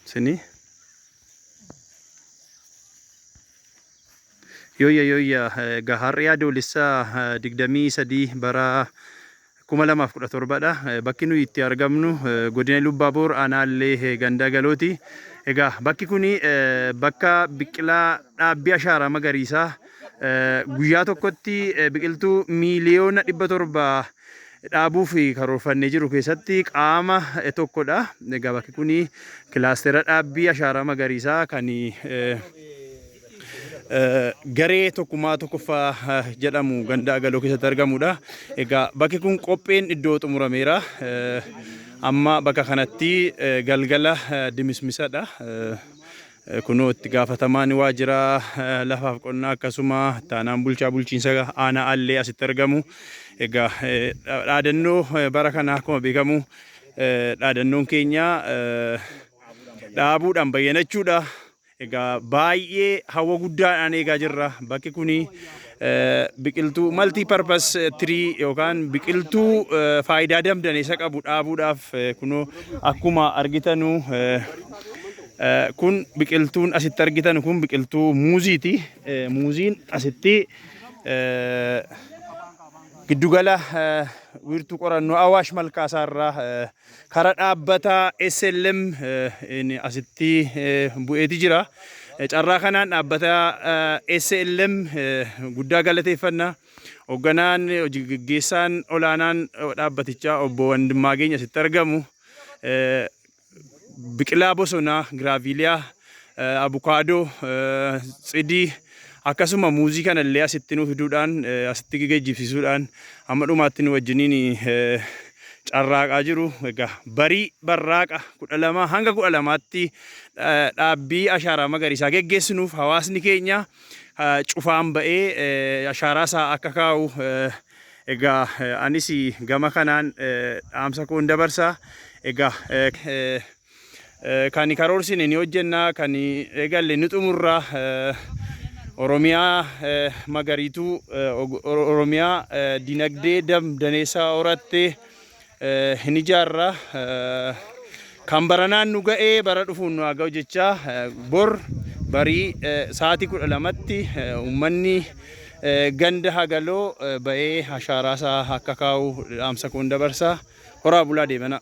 Sini. Yooyya yooyya egaa har'i adoolessaa digdamii sadii bara kuma lamaaf kudha torbadha. Bakki nuyi itti argamnu godina Lubbaaboor aanaallee gandaa galooti. Egaa bakki kuni bakka biqilaa dhaabbii ashaaraa magariisaa guyyaa tokkotti biqiltuu miiliyoona dhibba torba dhaabuuf karoorfanne jiru keessatti qaama tokkodha. Egaa bakki kun kilaastera dhaabbii ashaaraa magariisaa kan garee tokkummaa tokkoffaa jedhamu ganda agaloo keessatti argamudha. Egaa bakki kun qopheen iddoo xumurameera. Amma bakka kanatti galgala dimismisadha. Kunoo itti gaafatamaan waajjira lafaaf qonnaa akkasuma taanaan bulchaa bulchiinsa aanaa Allee asitti argamu. Egaa dhaadannoo bara kana akkuma beekamu dhaadannoon keenya dhaabuudhaan bayyanachuudha. Egaa baay'ee hawwa guddaadhaan eegaa jirra. Bakki kuni biqiltuu maltii parpas tirii yookaan biqiltuu faayidaa damdan isa qabu dhaabuudhaaf kunoo akkuma argitanu kun biqiltuun asitti argitan kun biqiltuu muuziiti. Muuziin asitti giddugala wiirtuu qorannoo Awaash Malkaasaarraa Kara dhaabbata SLM asitti bu'eeti jira. Carraa kanaan dhaabbata SLM guddaa galateeffanna. Hogganaan hojii gaggeessaan olaanaan dhaabbatichaa obbo Wandimmaageen asitti argamu biqilaa bosonaa giraaviiliyaa eh, abukaadoo, eh, tsidii akkasuma muuzii kana illee asitti nu fiduudhaan eh, asitti geejjibsiisuudhaan hamma dhumaatti nu wajjiniin eh, carraaqaa jiru. Egaa barii barraaqa kudha lamaa hanga kudha lamaatti eh, dhaabbii ashaaraa magariisaa geggeessinuuf hawaasni keenya eh, cufaan ba'ee eh, ashaaraa isaa akka kaa'u eh, egaa eh, anis gama kanaan eh, dhaamsa koon dabarsa. Egaa eh, eh, Eh, Kan karoorsine ni hojjenna, kan eegalle ni xumurra. Eh, Oromiyaa eh, magariituu, eh, og- Oro- Oromiyaa eh, dinagdee dam daneessaa horatte eh, hin ijaarra. Eh, Kan baranaan nu ga'ee bara dhufuun nu haa ga'u jechaa eh, bor barii eh, sa'aatii kudha lamatti eh, uummanni eh, ganda hagaloo eh, ba'ee ashaaraasaa akka kaa'u dhaamsa koon dabarsa. Horaa bulaa deebanaa.